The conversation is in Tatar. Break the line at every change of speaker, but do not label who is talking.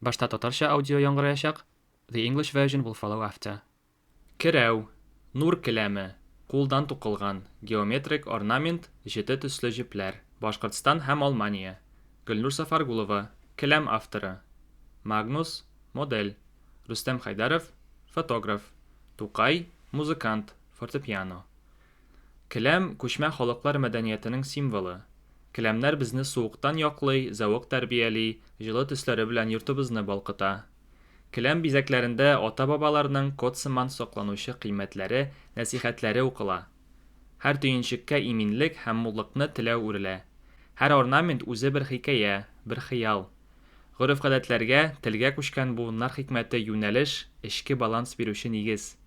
Башта татарча аудио яңгыраячак, the English version will follow after. Керәү, нур келәме, кулдан тукылган, геометрик орнамент, җете төсле җепләр. Башкортстан һәм Алмания. Гөлнур Сафаргулова, келәм авторы. Магнус, модель. Рөстәм Хәйдәров, фотограф. Тукай, музыкант, фортепиано. Келәм, күчмә халыклар мәдәниятенең символы. Келәмнәр безне суыктан яклый, зәвык тәрбияли, җылы төсләре белән йортыбызны балкыта. Келәм бизәкләрендә ата-бабаларның код сыман сакланучы кыйммәтләре, нәсыйхәтләре укыла. Һәр төенчеккә иминлек һәм муллыкны теләү үрелә. Һәр орнамент үзе бер хикәя, бер хыял. Гореф-гадәтләргә, телгә күчкән буыннар хикмәте юнәлеш, эчке баланс бирүче нигез.